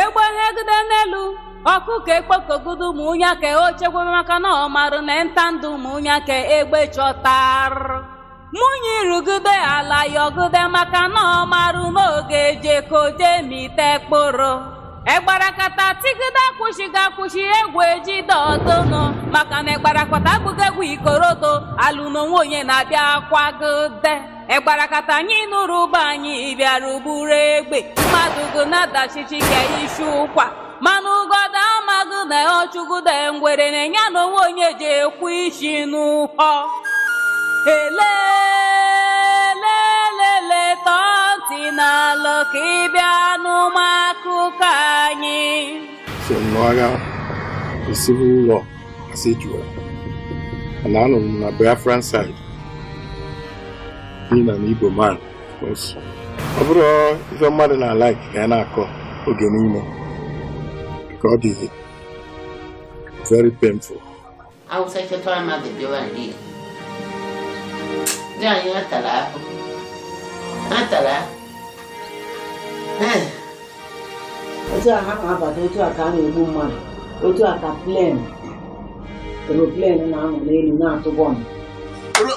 egbe hegide n'elu ọkụkọ ekpokogude ụmụ nya ka o chekwebe maka na ọ marụ na nta ndụ ụmụ nya ka egbe chọtarụ mụnye irugide ala yọgide maka na ọ marụ na ọ ga-eje ka o jemite kpụrụ egbarakata tigide akwụsịghị akwụsị egwu ejide ọdụnụ maka na egbarakata abụghị egwu ikorodo alụ n'onwe onye na-abịa kwagide egbarakata anyị nụrụ ụbọ anyị bịara ugburu egbe mmadụ gụ na-adachichi ka isi ụkwa mana ụgọda amaghị na ọ chụgụde ngwere na nya na onwe onye ji ekwu isi n'ụhọ elelelele tọọ ntị n'ala ka ị bịa nụma akụkọ anyị si n'agha esi n'ụlọ as it were and anọ m na Biafran side being an Igbo man ọ bụrọ ife mmadụ na-alike ka ya na-akọ oge niile ka ọ dị very painful it was such a traumatic war ndị ndị anyị atara ahụ atara ahụ otu a ha na-abata otu a ka a na-egbu mmadụ otu a ka plane aeroplane na-anọ n'elu na-atụ bọmbụ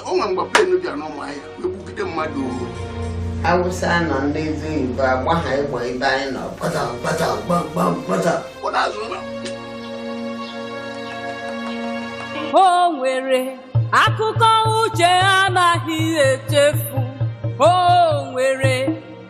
o nwere mgbe plane bịara n'Ụmụahịa egbugide mmadụ Awụsa nọ ndị ezi Igbo agba ha egbe ebe anyị nọ kpata kpata gbamgbam kpata o nwere akụkọ uche anaghị echefu o nwere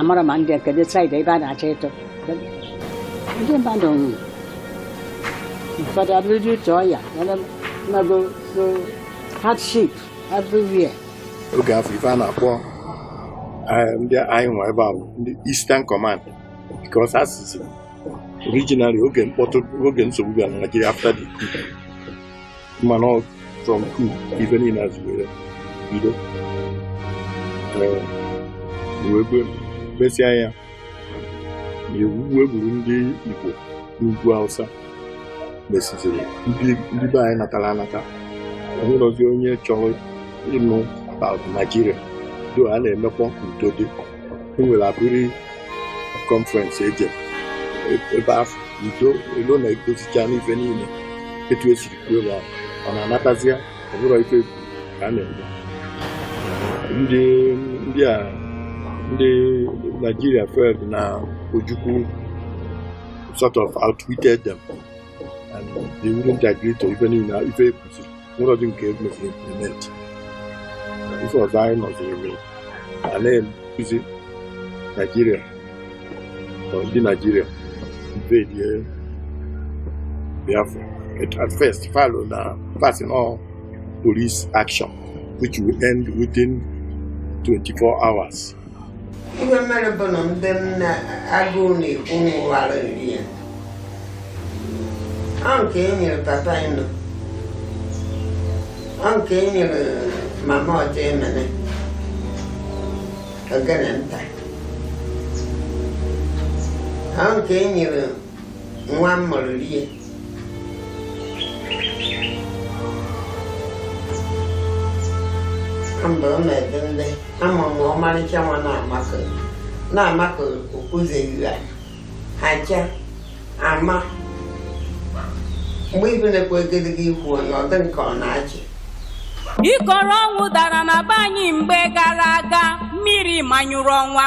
amarọ ma ndị kedu side ebe a na-achọ ịtụ ndị mmadụ nwụrụ ụfọdụ abụrụ due to ọya na agụụ hardship everywhere oge afụ ife a na-akpọ eh, ndị anyịnwa ebe a bụ ndị Eastern Command because as you see originally oge mkpọtụ oge nsogbu bịara na Nigeria after the mana from coup ife niile a zi wee bido wee mesịa ya e wee gburu ndị Igbo n'ugwu Hausa mesiziri ndị be anyị natara anata o nwerọzi onye chọrọ ịnụ about Nigeria though a na-emekwa ka udo dị e nwere Aburi conference e je ebe afụ udo e lo na e dozichaana ife niile etu e siri kwuo ebe ahụ ọ na-anatazịa ọ bụrụ ife egwu ka a na-eme ndị ndị a ndị Nigeria felt na Ojukwu sort of outwitted them and they wouldn't agree to ife niile ife ekwuziri nwerọdị nke emeziri implement ife ọzọ anyị nụziri eme a na-ebuzi naijiria ọ ndị naijiria invadie biafra at first fa lo na fa sị na ọ police action which will end within 24 hours ihe mere bụ na ndị nna agụụ na-egbu nwụwara nri ya ọ nke e nyere papa ịnọ ọ nke e nyere mama ọjọ emene ogene nta ọ nke e nyere nwa m mụrụ rie mgbe ọ na-ede ndị ama m ọmarịcha nwa na-amakọ na-amakọ okpuzeghị ya aja ama mgbe ibe na-ekwe egedege ikwu onye ọ dị nke ọ na-achị ikoro ọnwụ dara na be anyị mgbe gara aga mmiri manyụrụ ọnwa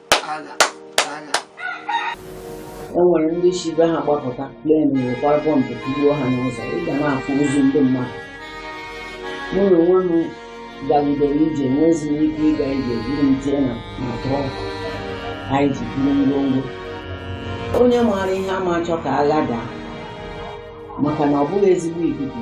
agha agha e nwere ndị si be ha gbapụta plen wekwara bọmbụ tugbuo ha n'ụzọ ị ga na-afụ ozu ndị mmadụ mụ na onwe m gagidere ije nwezi m ike ịga ije buru m tie na trọk anyị ji buru ngwongwo onye maara ihe ama achọ ka agha daa maka na ọ bụghị ezigbo ikuku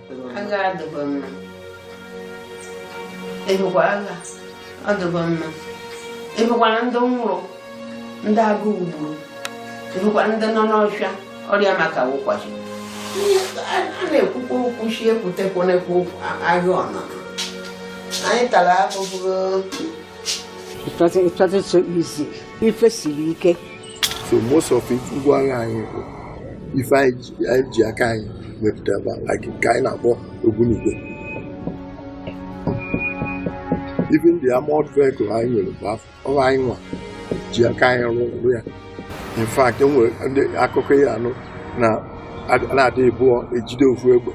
agha adịghị mma ebekwa agha adịghị mma ebekwara ndị nwụrụ ndị agụụ gburu ebekwa ndị nọ n'ọhịa ọrịa maka wụ kwashi a na-ekwukwa okwu sị ekwutekwanekwa okwu agha ọnụ anyị tara ahụhụ It wasn't, it wasn't so easy. ife siri ike so most of it ngwa agha anyị bụ ife anyị ji aka anyị mepụta ebe like nke anyị na-akpọ ogbunigwe even the armored vehicle anyị nwere mgbe afụ ọ bụ anyị nwa ji aka anyị rụrụ ya in fact enweredị akụkọ anyị nụ na mmadụ ibụọ ejide ofu egbe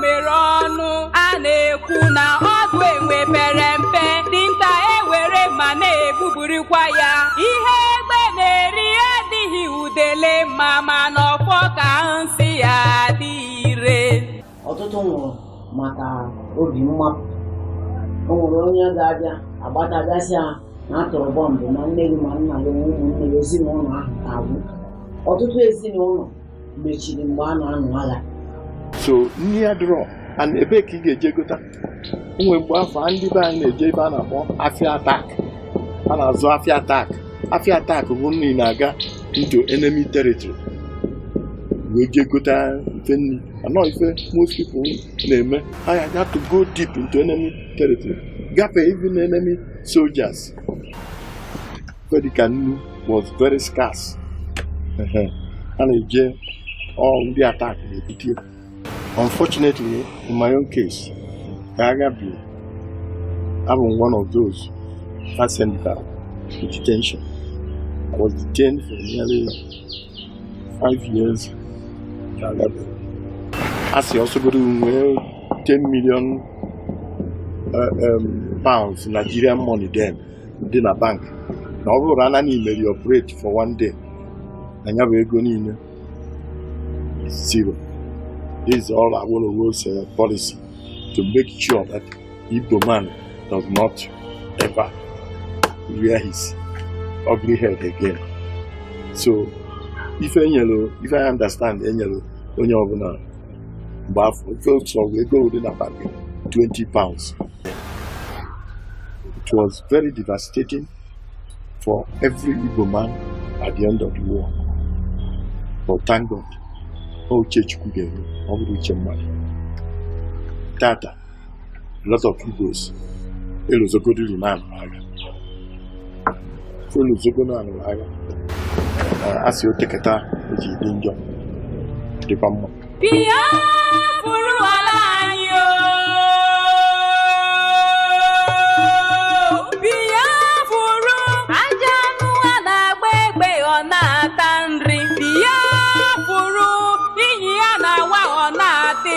mere ọnụ a na-ekwu na ọdụ enwe pere mpe dinta ewere mma na-egbubirikwa ya ihe egbe na-eri adịghị udele mma mana ọfọ ka nsị ya dị ire ọtụtụ nwụrụ maka obi mmapụ o nwere onye ga-abịa agbata bịa sị ya na a tụrụ bọmbụ na nne gị ma nna gị na ụmụnne gị ezinụlọ ahụ ka agwụ ọtụtụ ezinụlọ mechiri mgbe a na-anụ agha so nri adịrọ and ebee ka ị ga-eje gota o nwee mgbe afụ ndị be anyị na-eje ebe a na-akpọ afịa atak a na-azụ afịa atak afịa atak bụ ndị na-aga into enemy territory wee jee gota ife nri anọ ife most people na-eme ha had to go deep into enemy territory gafee even enemy soldiers dịka nnu was very scarce a na-eje all ndị atak na-ebute ya unfortunately in my own case ka agha bi abụ m one of those ha sendịta to detention I was detained for nearly five years ka agha bi a sị ọ sọgodu nwee 10 million uh, um, pounds Nigerian money then dị na bank na ọ bụrụ naanị i meri operate for one day na ya bụ ego niile is zero this is all Awolowo's uh, policy to make sure that Igbo man does not ever rear his ugly head again so ife I understand e nyelu onye ọbụla mgbe afụ ofe otu ọgụ ego dị na bank 20 pounds it was very devastating for every Igbo man at the end of the war but thank God ọ uche Chukwu ga-eru ọ bụrọ uche mmadụ tata a lot of Igbos elozogodiri na a nụrụ agha elozogo na a nụrụ agha a sị o tekata o ji dị njọ dịkwa mma Biafra ala anyị o Biafra ajọ anụ a na-agba egbe ọ na-ata nri Biafra inyi a na-awa ọ na-atị